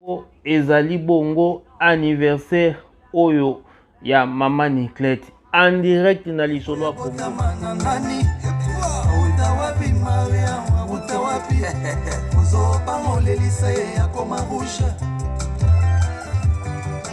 Bongo ezali bongo anniversaire oyo ya mama Niclette en direct na lisolo ya Congo. Ozoba molelisa ye akoma rouge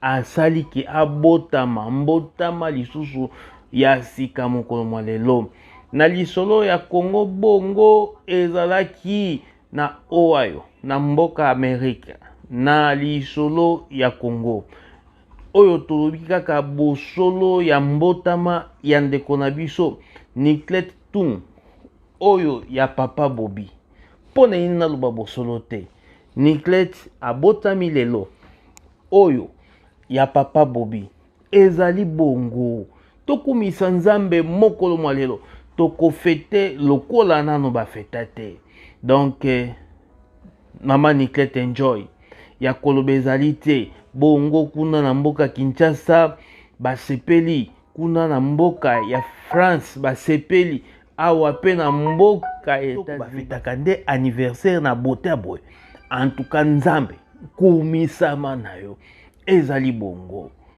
asali ke abotama mbotama lisusu ya sika mokolo mwa lelo na lisolo ya congo bongo ezalaki na ohio na mboka amerika na lisolo ya congo oyo tolobi kaka bosolo ya mbotama ya ndeko na biso niclet tung oyo ya papa bobi mpo na nini naloba bosolo te Niclet abotami lelo oyo ya papa Bobi ezali bongo tokumisa nzambe mokolo mwa lelo tokofete lokola nano bafeta te donc eh, mama niclete enjoy ya koloba ezali te bongo kuna na mboka kinshasa basepeli Kuna na mboka ya France basepeli awa mpe na mboka bafetaka nde anniversaire na bote ya boye antuka nzambe kumisama na yo ezali bongo